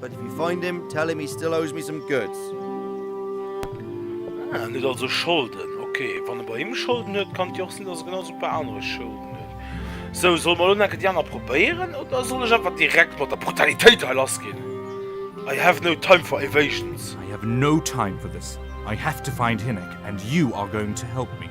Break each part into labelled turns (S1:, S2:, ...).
S1: But if you find him, tell him he still owes me some goods.
S2: Ah, en huet also Scholden. Ok, wann e bei him Scholden huet, kann et jo och sinn, datt e genau sou e puer anere Scholden huet. Sou, solle mer elo enke déi aner probéieren oder soll ech einfach direkt mat der Brutalitéit hei lass ginn? I have no time for evasions. I have no time
S3: for this. I have to find Hynek and you are going to help me.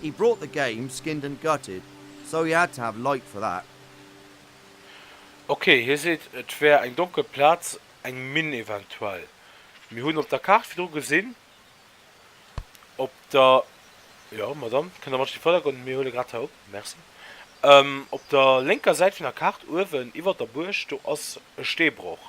S1: He brought the game skinned and gutted, so he had to have light for that. Ok,
S2: hie seet et wär eng donkel Plaz, eng Minn eventuell. Mir hunn op der Kaart virdru gesinn, op der, jo Madame, kënnt Der mat an de Vërdergrond, mir huele grad hei op, merci, op der lénker Säit vun der Kaart uewen iwwer der Buerg, do ass e Steebroch.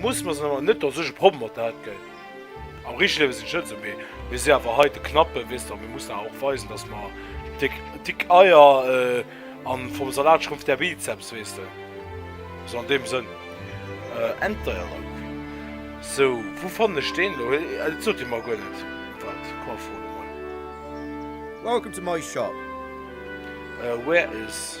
S2: Muss mer sen awer net dass ech e Problem mat dat gei. Am richteg Liewen sin ech net sou mee mir si awer hei de Knappe wees de a mir mussen awer och weisen dass mer déck dick Eier an vom Salat schrumpft der Bizeps wees de sou an deem Sënn. Enter ja dank. Sou wou fannen ech deen lo hei et sot dir mer guer net wat komm fro de mol. Welcome to my shop. Where is.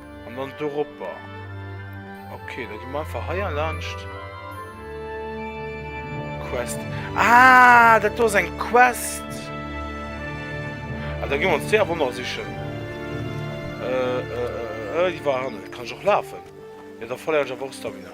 S2: An dann do roper. Ok, da gi mer einfach heier laanscht. Quest. Ah, dat do ass eng Quest. Ah, da gi mer ons déi awer nach sichen. Äh, äh, äh, äh, déi war hannen. Kann ech och lafen? Jo, da verléieren ech awer och Stamina.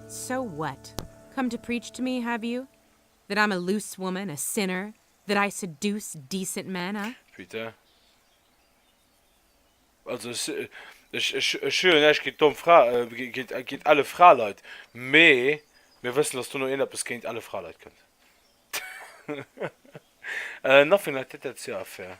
S3: So what?
S4: Come to preach to me, have you? That I'm a loose woman, a sinner, that I seduce decent men, huh? Putain.
S2: Also ech, ech, ech hunn jo näischt géint domm Fra, géint, géint elle Fraleit, mee mir wëssen, dass dono een eppes géint elle Fraleit kënnt. Nothing like that, that's your affair.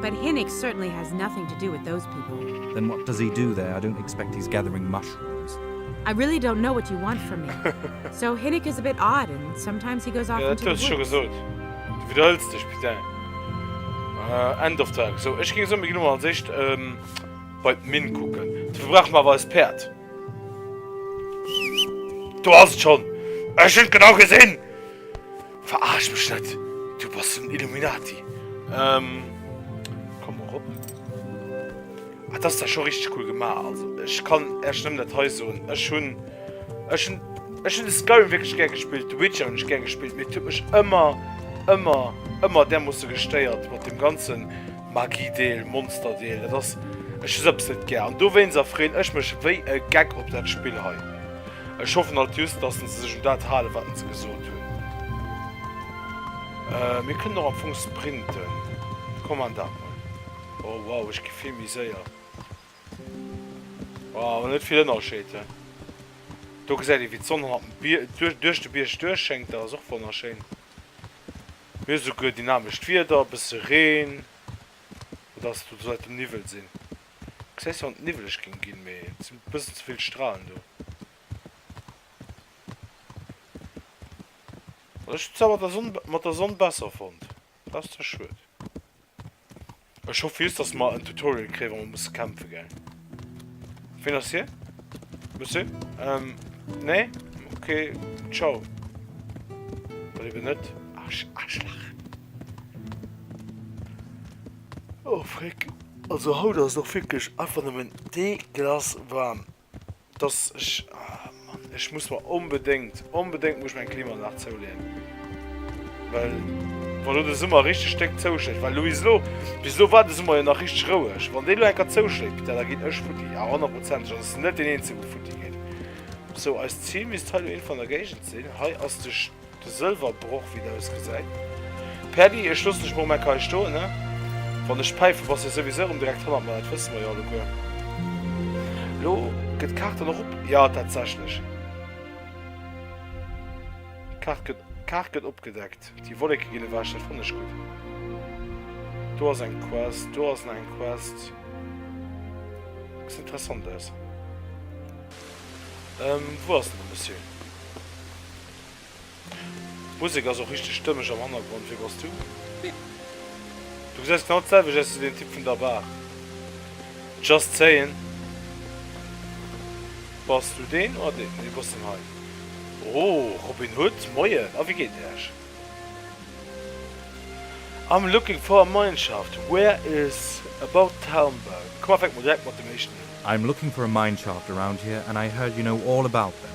S3: But Hinnix certainly
S4: has nothing to do with those people. Then what does he do there?
S3: I don't expect he's gathering mushrooms. I really don't
S4: know what you want from me. So Hinnik is a bit odd and sometimes he goes off into the woods. Jo, dat hues scho gesot.
S2: Du
S4: widderhëls
S2: dech, putain. End of Talk. Sou, ech géing soen, mir ginn emol als éischt bei d'Minn kucken. Dofir brauche mer awer eist Päerd. Do ass et schonn! Ech hunn et genau gesinn! Veraarsch mech net, du bass den Illuminati. Ehm, komm erop. Ah, dat ass da scho richteg cool gemaach. Also, ech kann Äech nëmmen dat hei soen. Ech hunn, ech hunn, ech hunn de Skyrim wierklech gär gespillt, de Witcher hunn ech gär gespillt, mee et huet mech ëmmer, ëmmer, ëmmer därmoosse gestéiert mat deem ganze Magiedeel, Monsterdeel. Dat ass, ech hu sou eppes net gär. An dowéinst erfreeën ech mech wéi e Geck op dat Spill hei. Ech hoffen alt just, dass en se sech un dat halen, wat en se gesot hunn. Äh, mir kënnen och am Fong sprinten. Komm, man dat mol. Oh, wow, ech gi vill méi séier. Oh, awer net vill Ënnerscheed, he? Do gesäit ee, wéi d'Sonn hannert dem Bier, duerch, duerch de Bierg duerch schéngt. Dat ass och wonnerschéin. Mir hu souguer dynamescht Wieder, e bësse Reen. Oder ass et do d'Leit dem Niwwel sinn? Gesäis du wann et niwweleg géing ginn, mee et sinn bëssen ze vill Stralen do. Also ech hunn zwar mat der Sonn mat der Sonn besser fonnt, dat ass zwar schued. Ech hoffe just dass mer en Tutorial kréien wa mer musse kämpfe gell. Ween ass hie? Monsieur? Ähm nee? Ok ciao. Oder eben net. Arsch Arschlach. Oh Fréck, also haut ass et och wierklech einfach nëmmen deglace waarm, dass ech, ah Mann, ech muss mer onbedéngt, onbedéngt muss ech mer eng Klimaanlag zouleeën, well wa lo de Summer richteg déck zouschléit, well lo bis elo, bis elo war de Summer jo nach richteg roueg, wann deen elo eng Kéier zouschléit, Piter, da ginn ech futti, a honnertprozentig, also ech sinn net deen Eenzegen, dee futti geet. Sou, eist Zil misst hei lo iergendwou an der Géigend sinn, hei ass de. De Sëlwerbroch, wéi en ausgesäit. Pädi, ech loossen dech mol Meck hei stoen, ne? Wann ech päife, bass de souwisou erëm direkt hannert mer, dat wësse mer jo alleguer. Elo gëtt d'Kaart dann och op. Jo, tatsächlech. D'Kaart gëtt, d'Kaart gëtt opgedeckt. Déi Wolleke ginn ewech, dat fannen ech gutt. Do ass eng Quest, do ass nach eng Quest. Gesäit interessant aus. Wou ass den Monsieur? D'Musek ass och richteg stëmmeg am Hannergrond, wee bass du? Du gesäis genau d'selwecht aus wéi den Typ vun der Bar. Just saying. Bass du deen oder deen? Nee du bass deen hei. Oh, Robin Hood, moien, a wéi geet et iech? I'm looking for a mineshaft, where is about town bau? Komm, a fänke mer direkt mat dem éischten un. I'm looking for a
S3: mineshaft around here and I heard you know all about them.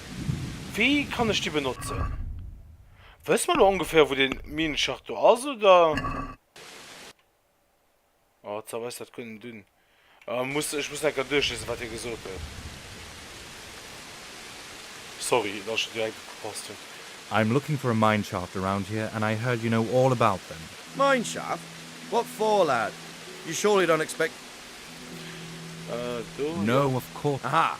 S2: Wéi kann ech déi benotzen? Wësse mer elo ongeféier wou den Minenschacht do ass oder? Oh et ass dat guer net un. Muss ech muss enker duerchlesen wat hie gesot huet. Sorry dass ech direkt net gepasst hunn. I'm looking
S3: for a mineshaft around here and I heard you know all about them. Mineshaft?
S1: What for lad? You surely don't expect me
S3: to know? No of course. Aha,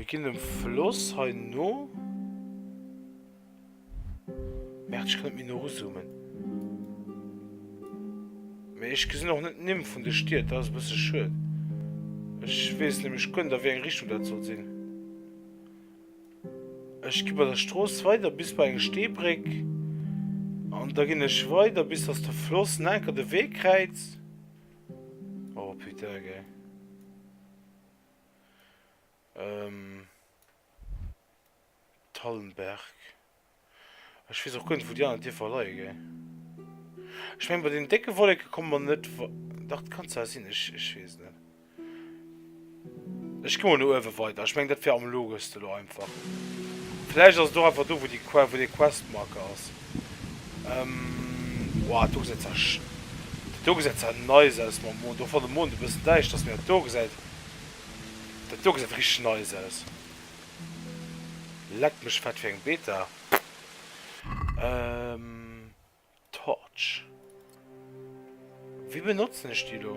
S2: Mir ginn dem Floss hei no. Merde, ech kann net méi no ruzoomen. Mee ech gesinn och net d'Nimm vun de Stied, dat ass e bësse schued. Ech weess nämlech guer net, a wéi eng Richtung dat soll sinn. Ech gi bei der Strooss weider bis bei eng Steebréck. An da ginn ech weider, bis dass de Floss en anker de Wee kräizt. Oh putain, gell. Thallenberg. Ech wees och guer net wou déi aner Dierfer leie gei. Ech meng bei den décke Wolleke komme mer net wa. Dach dat kann zwar sinn, ech ech wees net. Ech gi mol no uewe weider, ech meng dat wier am logeste lo einfach. Vläicht ass et och einfach do wou déi wou dee Questmarker ass. Woah do gesäit zwar sch do gesäit zwar nice aus mam Mond, och wann de Mond e bëssen däischter ass, mee wat do gesäit. Dat do gesäit richteg nice aus. Leck mech fett, fir eng Beta! Ehm. Torch. Wéi benotzen ech déi do?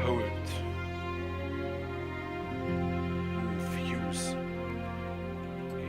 S2: Hold. Move, use. E.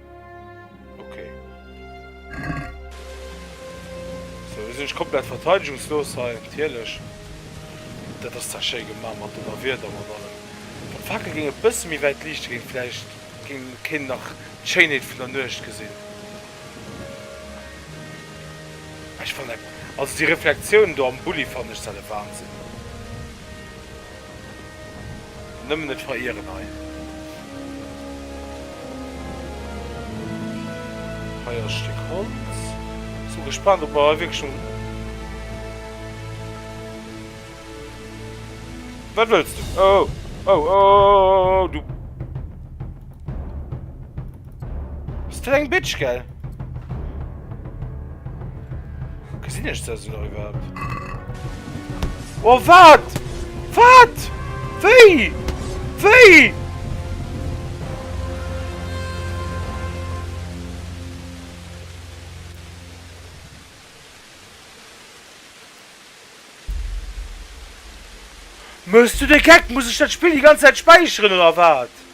S2: Okay. So, wir sind komplett verteidigungslos hier, natürlich. Das ist zwar schön gemacht mit dem Wirt, aber dann. Beim Fackel ging ein bisschen mehr weit Licht, ging vielleicht ging kein nach die Schönheit von der Nucht gesehen. Ich fand, also die Reflexion da am Bulli fand ich selber Wahnsinn. Nëmmen et verieren hei. Hei ass e Stéck Holz. Sou gespaant op mer hei wierklech no. Wat wëlls du? Oh! Oh! Oh! Du. Bist du eng Bitch, gell? Gesinn ech das noch überhaupt? Oh, wat? Wat? Wéi? Wéi? Mëss du de Geck? Muss ech dat Spill déi ganz Zäit späicheren oder wat?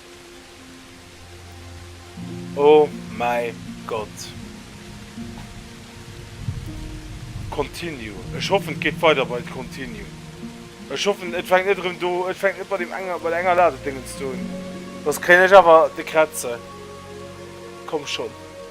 S2: Oh mäi Gott! Continue. Ech hoffen et geet weider bei Continue. Ech hoffen et fänkt net erëm do, et fänkt net bei deem enger, bei der enger Ladedéngens do un. Soss kréien ech awer de Krätze. Komm schonn.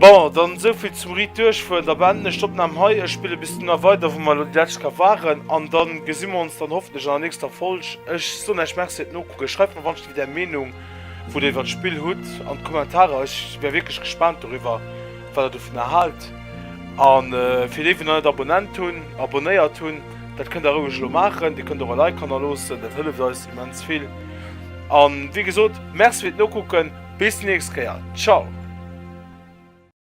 S2: Bon, dann esou vill zum Ritt duerchfueren. Da beenden ech d'Opnahm hei. Ech spillen bis dunner weider wou mer elo déi läscht Kap waren an dann gesi mer ons dann hoffentlech an der nächster Folg. Ech soen Äech Merci fir d'Nokucken. Schreift mer wannscht wéi där Meenung wou der iwwert d'Spill hutt an d'Kommentarer. Ech wär wierklech gespaant doriwwer wat der dovunner haalt. An fir déi wou nach net abonnent hunn, abonnéiert hunn, dat kënnt der roueg elo maachen. Dir kënnt och e Like hannerloossen, dat hëlleft eis immens vill. An wéi gesot, Merci fir d'Nokucken, bis déi nächst Kéier, ciao!